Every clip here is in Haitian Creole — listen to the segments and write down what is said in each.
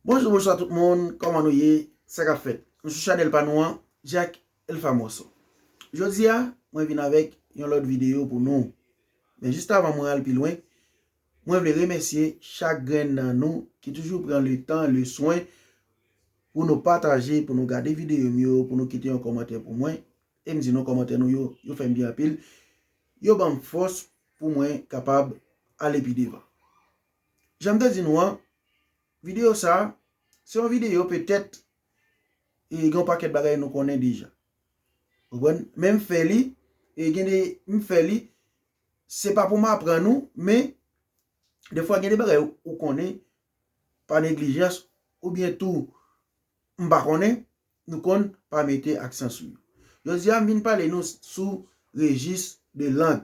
Bonjou bonswa tout moun kòman nou ye sa kap fèt nou sou chanèl pa nou an Jack el famoso jodi a mwen vin avèk yon lòt videyo pou nou men jis avan mwen al pi lwen mwen vle remèsye chak grenn nan nou ki toujou pran le tan le swen pou nou pataje pou nou gade videyo m yo pou nou kite yon kòmantè pou mwen e m di nou kòmantè nou yo yo fè m byen anpil yo banm fòs pou mwen kapab ale pi devan. Jan m te di nou an, videyo sa a, se yon videyo petèt e gen yon pakèt bagay nou konnen deja. Ou konprann? Men m fè li, e gen de, m fè li, se pa pou m aprann ou, men, defwa gen de bagay ou konnen pa neglijans, oubyen tou, m pa konnen nou konn pa mete aksan sou yo. Jodi a m vin pale nou sou rejis de lang.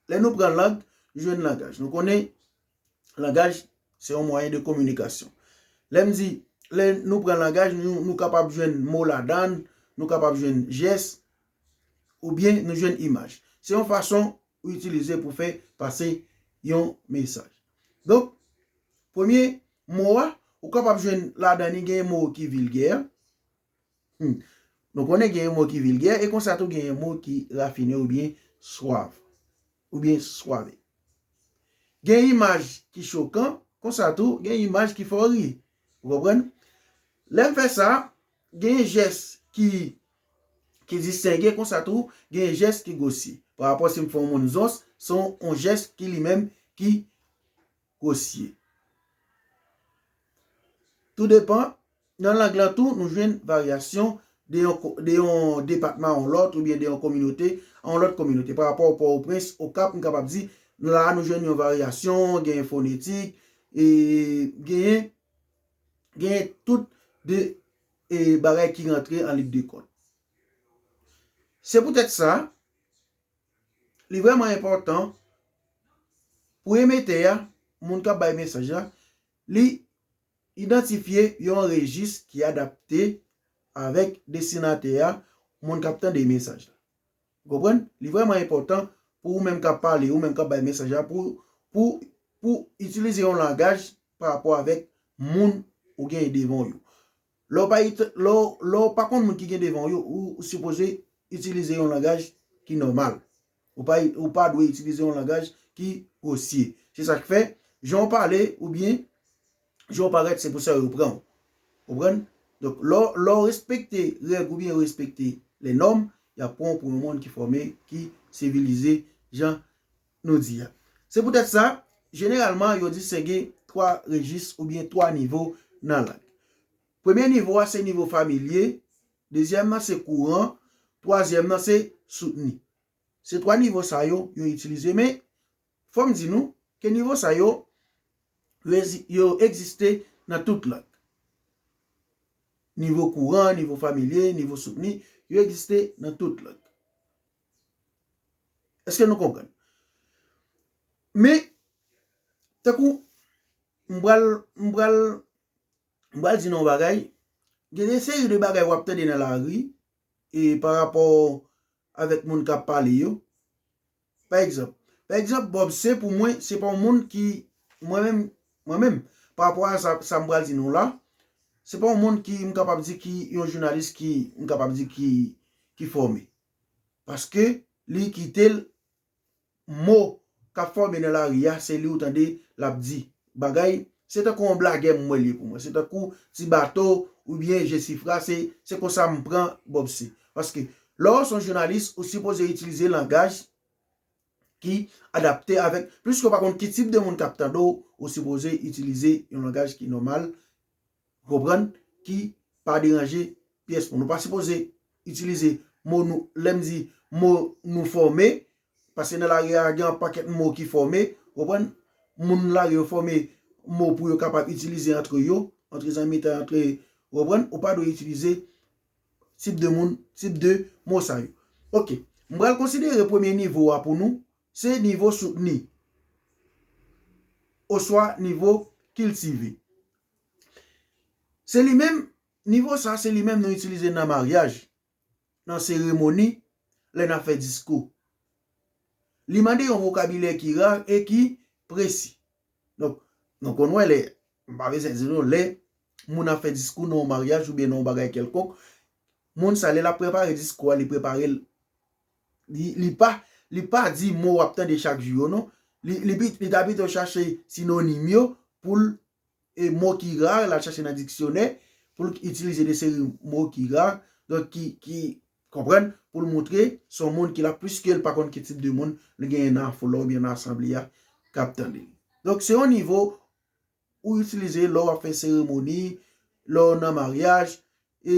Lè nou pran lang, nou jwenn langaj. Nou konnen langaj se yon mwayen de kominikasyon. Lè m di, lè nou pran langaj, nou kapab jwenn mo ladan l, nou kapab jwenn jès, oubyen nou jwenn imaj. Se yon fason ou itilize pou fè pase yon mesaj. Donk, premye mo a, ou kapab jwenn ladan li genyen mo ki vilgè, nou konnen genyen mo ki vilgè, e konsa tou genyen mo ki rafine ou byen swav, ou byen swave. Genyen imaj ki chokan, konsa tou genyen imaj ki fè w ri, ou konprann? Lè m fè sa, genyen jès ki distenge, konsa tou genyen jès ki gwosye. Parapò si m fè yon moun zons, se yon jès ki li menm ki Kosye. Tou depan, nan lang lan tou nou jwenn varyasyon de yon depatman a yon lòt oubyen de yon kominote a yon lòt kominote. Pa rapò Pòtoprens, Okap, nou kapab di, la a nou jwenn yon varyasyon, genyen fonetik, genyen tout de bagay ki rantre an lig de kont. Se poutèt sa. li vrèman enpòtan pou emetè a, moun k ap bay mesaj la, li idantifye yon rejis ki adapte avèk destinatè a, moun k ap tande mesaj la. Ou konprann? Li vrèman enpòtan pou ou menm k ap pale, ou menm k ap bay mesaj la, pou ou itilize yon langaj parapò avèk moun ou genyen devan w yo. Lè w pa konn moun ki gen devan w yo, ou sipoze itilize yon langaj ki nòmal. Ou pa dwe itilize yon langaj ki gwosye. Se sa k fè, jan w pale oubyen jan w parèt se pou sa yo pran w. Ou konprann? Donk, lè w respekte règ oubyen w respekte lè nòm, y ap pran w pou yon moun ki fòme, ki sivilize jan. nou di a. Se poutèt sa, jeneralman yo distenge 3 rejis oubyen 3 nivo nan lang. Premye nivo a se nivo familye, dezyèm nan se kouran, twazyèm nan se soutni. Se 3 nivo sa yo, yo itilize men fò m di nou ke nivo sa yo, yo egziste nan tout lang. Nivo kouran, nivo familye, nivo soutni, yo egziste nan tout lang. Eske nou konprann? Men, tankou, m pral, m pral, m pral di nou yon bagay, gen yon seri de bagay w ap tande nan lari, e pa rapò avèk moun k ap pale yo, pa egzanp, pa egzanp, Bob se pou mwen, se pa yon moun ki, mwen menm, mwen menm, pa rapò a sa, sa m pral di nou la, se pa yon moun ki, m kapab di ki, yon jounalis ki, m kapab di ki, ki fòme. paske li kite l mo k ap fòme nan lari a se li ou tande l ap di bagay se tankou yon blagè m wè l ye pou mwen se tankou ti bato oubyen jesifra se konsa m pran bob se paske lè w s on jounalis ou sipoze itilize langaj ki adapte avèk piske ou pa konn ki tip de moun k ap tande w ou sipoze itilize yon langaj ki nòmal Ou konprann? Ki pa deranje pyès moun. Nou pa sipoze itilize mo nou, lè m di mo nou fòme, paske nan lari a gen yon pakèt mo ki fòme, ou konprann? Moun lari yo fòme mo pou yo kapab itilize antre yo, antre zanmitay, antre, ou konprann? Ou pa dwe itilize tip de moun, tip de mo sa yo. Ok. M pral konsidere premye nivo a pou nou, se nivo soutni. Oswa nivo kiltive. Se li menm, nivo sa se li menm nou itilize nan maryaj, nan seremoni, lè nap fè diskou. Li mande yon vokabilè ki rar e ki presi. Donk, nou konn wè lè, m pa bezwen di nou, lè moun ap fè diskou nan yon maryaj oubyen nan yon bagay kèlkonk, moun sa lè lap prepare diskou a li prepare l. Li pa Li pa di mo w ap tande chak jou yo non. Li li ta pito chache sinonim yo pou l E mo ki rare l al chache nan diksyonè pou l itilize de seri mo ki rare donk ki ki konprann pou l montre s on moun ki la piske l pa konn ki tip de moun li genyen nan foul la oubyen nan asanble a k ap tande l. Donk se yon nivo ou itilize lè w ap fè seremoni, lè w nan maryaj, e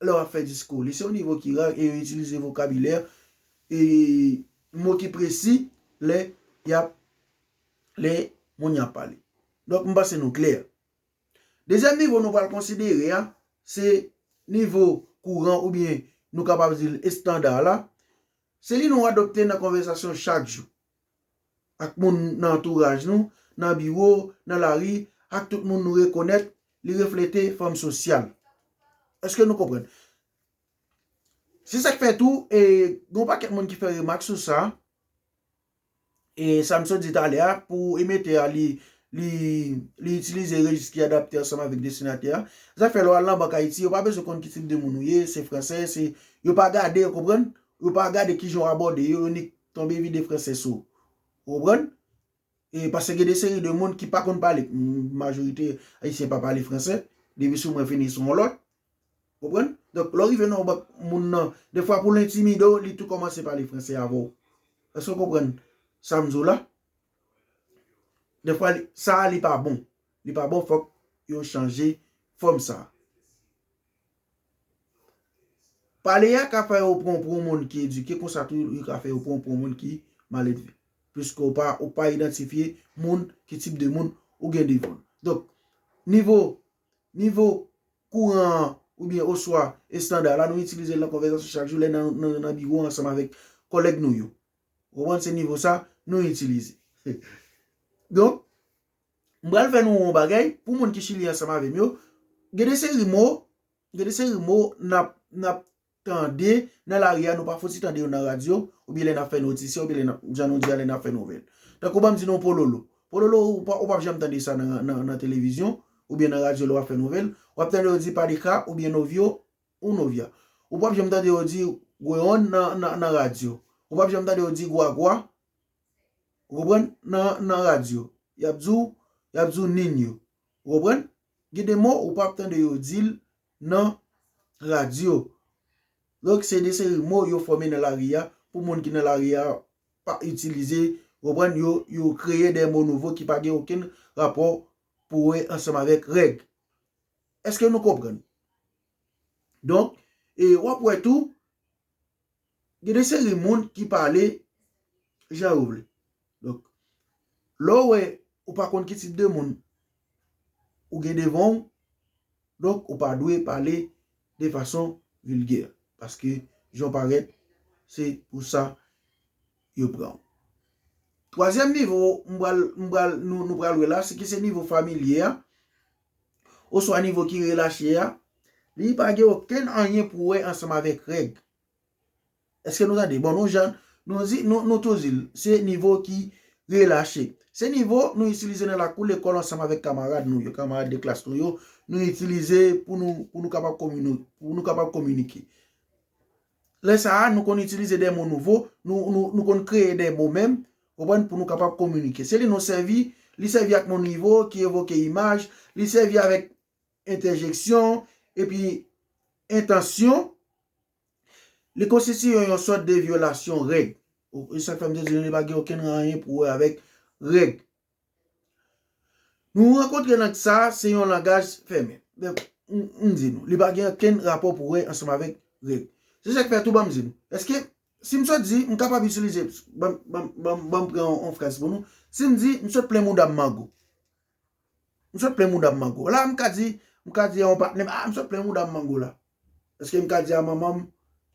lè w ap fè diskou. Li se yon nivo ki ra e yo itilize vokabilè e mo ki presi lè y ap, lè moun y ap pale. Donk m panse nou klè. Dezyèm nivo nou pral konsidere a, se nivo kouran oubyen nou kapab di l estanda la. Se li nou adopte nan konvèsasyon chak jou. ak moun nan antouraj nou, nan biwo, nan lari, ak tout moun nou rekonèt, li reflete fòm sosyal. Èske nou konprann? Se sa k fè tou, e gen yon pakèt moun ki fè remak sou sa, e sa m sot di talè a, pou emetè a li itilize rejis ki adapte ansanm avèk destinatè a, zafè lè w al nan bank Ayiti, yo pa bezwen konn ki tip de moun ou ye, se fransè, se, yo pa gade, ou konprann? Yo pa gade ki jan w abòde yo, yo nik. Tonbe vide franse sou. Ou konprann? E pase gen de seri de moun ki pa konn pale. Majorite Ayisyen pa pale franse. Depi sou mwen fini sou yon lòt. Ou konprann? Donk, lè w rive nan yon bank, moun nan, defwa pou l entimide w, li tou kòmanse pale franse avè w. Èske w konprann sa m di w la? Defwa li, sa a li pa bon. Li pa bon, fòk yo chanje fòm sa a. Pale a ka fè yo pran w pou yon moun ki edike konsa tou li ka fè yo pran w pou yon moun ki maledve. Piske ou pa ou pa idantifye moun ki tip de moun ou gen devan w. Donk, nivo, nivo kouran an oubyen oswa estanda la nou itilize l nan konvèzasyon chak jou lè n nan biwo ansanm avèk kòlèg nou yo. Ou konprann se nivo sa nou itilize. Donk, M pral fè nou on bagay, pou moun ki Chili ansanm avè m yo, gen de seri mo, gen de seri mo nap, nap tande nan lari a, nou pa fouti tande yo nan radyo, oubyen lè nap fè notisyon, oubyen lè nap, jan nou di a lè nap fè nouvèl. Tankou banm di nou pololo. Pololo ou pa, ou pap janm tande sa nan, nan, nan televizyon, oubyen nan radyo lè wap fè nouvèl. Wap tande yo di padeka oubyen novio ou novia. Ou pap janm tande yo di gweon nan, nan, nan radyo. Ou pap janm tande yo di gwagwa. Ou konprann? Nan radyo, y ap di w, y ap di w Niño. Ou konprann? Gen de mo ou pap tande yo di l nan radyo. Donk, se de seri mo yo fòme nan lari a pou moun ki nan lari a pa itilize. Ou konprann? Yo kreye de mo nouvo ki pa gen okenn rapò pou wè ansanm avèk règ. Èske nou konprann? Donk, e w ap wè tou, Gen de seri moun ki pale jan yo vle. Donk, lè ou wè ou pa konn ki tip de moun ou gen devan ou, donk ou pa dwe pale de fason vilgè. Paske jan ou parèt, se pou sa yo pran ou. Twazyèm nivo m pral, m pral, nou pral wè la, se ki se nivo familye a, oswa nivo ki relache a, li pa gen okenn anyen pou wè ansanm avèk règ. Eske nou tande? Bon nou jan nou di nou tou di l, se nivo ki relache. Se nivo nou itilize nan lakou lekòl ansanm avèk kamarad nou yo, kamarad de klas nou yo, nou itilize pou nou kapab kominike. Lè sa a nou konn itilize de mo nouvo, nou konn kreye de mo menm, ou konprann, pou nou kapab kominike. Se li nou sèvi, li sèvi ak mo nivo ki evoke imaj, li sèvi avèk entèjeksyon, epi entansyon, li konstitiye yon sòt de vyolasyon règ. E sa k fè m te di nou li pa gen okenn anyen pou wè avèk règ. Nou rankontre nan sa, se yon langaj fèmen. M di nou, li pa gen okenn rapò pou wè ansanm avèk règ. Se sa k fè tou banm di nou, èske si m sot di, m kapab itilize, banm pran yon fraz pou nou, si m di m sot plen mouda m mango. M sot plen mouda m mango. La m ka di, m ka di a yon patnè m, ah m sot plen mouda m mango la. Eske m ka di a manman m,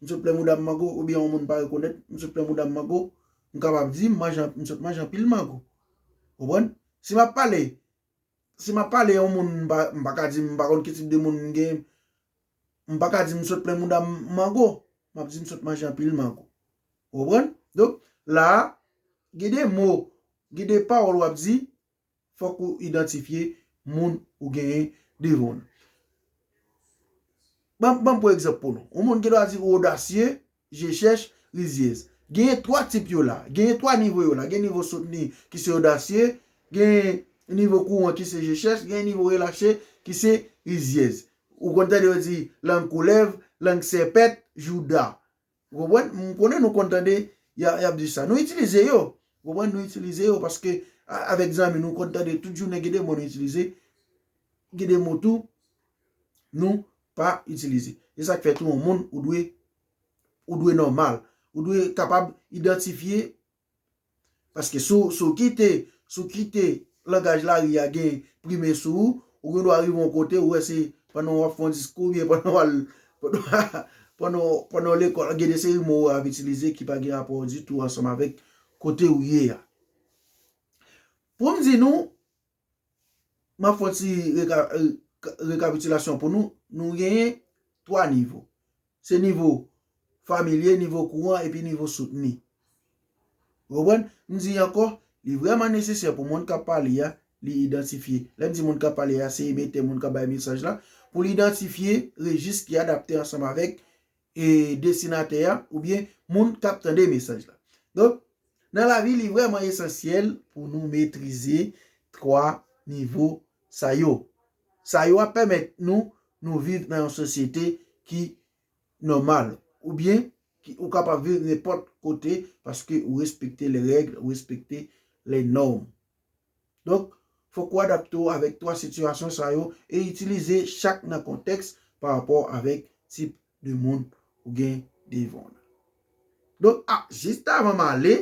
m sot plen mouda m mango, oubyen yon moun m pa rekonèt, m sot plen mouda m mango. M kapab di, m sot manje anpil mango. Ou konprann? Si m ap pale, si m ap pale yon moun m pa, m pa ka di m pa konn ki tip de moun m gen, m pa ka di m sot plen mouda m mango. M ap di m sot manje anpil mango. Ou konprann? Donk, la a, gen de mo, gen de pawòl w ap di, fòk ou idantifye moun ou genyen devan w. Ban m pran egzanp pou nou. Yon moun gen dwa di ou odasye, je chèch, rizyèz. Genyen 3 tip yo la. Genyen 3 nivo yo la. Gen nivo soutni ki se odasye, genyen nivo kouran ki se je chèch, genyen nivo relache ki se rizyèz. Ou konn tande yo di lang koulèv, lang sèpèt, jouda. Ou konprann? M konnen nou konn tande y ap di sa. Nou itilize yo. Ou konprann? Nou itilize yo paske avèk zanmi nou konn tande tout jounen gen de mo nou itilize, gen de mo tou nou pa itilize. Se sa k fè tou yon moun ou dwe nòmal. Ou dwe kapab idantifye Paske si w kite, si w kite langaj lari a gen prime sou ou, ou gen dwa rive yon kote ou wè se pandan w ap fè yon diskou oubyen pandan w al, pandan w lekòl gen de seri mo ou ap itilize ki pa gen rapò ditou ansanm avèk kote ou ye a. Pou m di nou. M ap fè yon ti rekapitilasyon pou nou. Nou genyen 3 nivo. Se nivo familye, nivo kouran epi nivo soutni. Ou konprann? M di ankò, li vrèman nesesè pou moun k ap pale a, li idantifye. Lè m di moun k ap pale a, se emetè, moun k ap bay mesaj la, pou l idantifye rejis ki adapte ansanm avèk e desinatè a oubyen moun k ap tande mesaj la. Donk, nan lavi li vrèman esansyèl pou nou metrize 3 nivo sa yo. Sa yo ap pèmèt nou nou viv nan yon sosyete ki nòmal oubyen ki ou kapab viv nenpòt kote paske ou respekte lè règle, ou respekte lè nòm. Donk, fòk ou adapte w avèk 3 sitiyasyon sa yo e itilize chak nan kontèks pa rapò avèk tip de moun ou gen devan w la. Donk, a, jis avan m ale,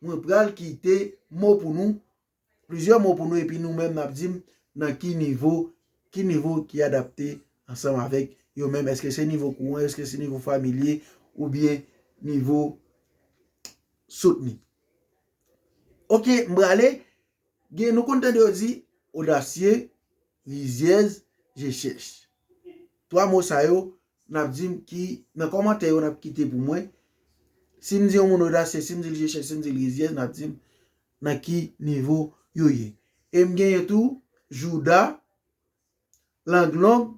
mwen pral kite mo pou nou, plizyè mo pou nou epi nou menm n ap di m nan ki nivo, ki nivo ki adapte ansanm avèk yo menm. Èske se nivo kouran, èske se nivo familye oubyen nivo soutni. Ok m prale gen nou konn tande yo di odasye, rizyèz, je chèch. 3 mo sa yo nap di m ki nan kòmantè yo nap kite pou mwen si m di yon moun odasye, si m di l je chèch, si m di l rizyèz nap di m nan ki nivo yo ye. E m genyen tou jouda, lang long,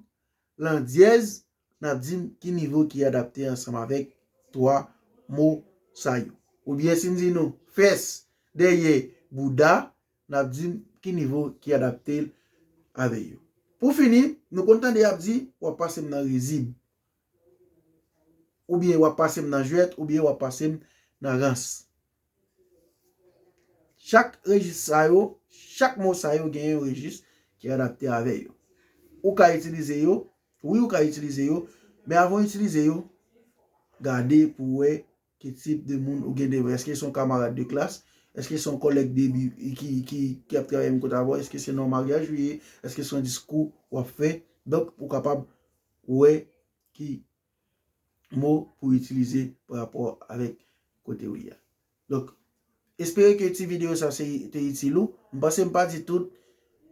landyèz. N ap di m ki nivo ki adapte ansanm avèk twa mo sa yo. Oubyen si m di nou fès dèyè bouda, n ap di m ki nivo ki adapte l avè yo. Pou fini, nou konn tande y ap di w ap pase m nan rizib, oubyen w ap pase m nan jwèt, oubyen w ap pase m nan rans. Chak rejis sa yo, chak mo sa yo gen yon rejis ki adapte avè yo. Ou ka itilize yo, wi ou ka itilize yo, men avan ou itilize yo, gade pou wè ki tip de moun ou gen devan. Eske se yon kamarad de klas? Eske se yon kòlèg de bi ki ap travay menm kote avè w? Eske se nan yon maryaj ou ye? Eske se yon diskou w ap fè? Donk, ou kapab wè ki. mo pou itilize pa rapò avèk kote ou ye a. Donk, espere ke ti videyo sa se te itil ou. M panse m pa di tout.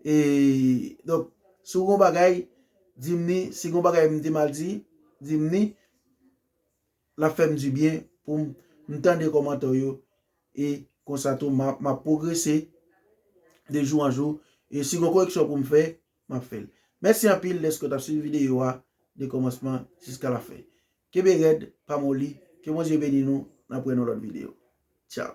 E, donk, si w gen yon bagay, di m ni. Si gen yon bagay m te mal di, di m ni. L ap fè m di byen pou m tande kòmantè w yo. E, konsa tou, m ap pwogrese de jou an jou. E, si gen yon koreksyon pou m fè, map fèl. Mèsi anpil dèske w tap swiv videyo a de kòmansman jiska la fen. Kenbe rèd, pa moli, ke Bondye beni nou, nap wè nan lòt videyo. Tchao!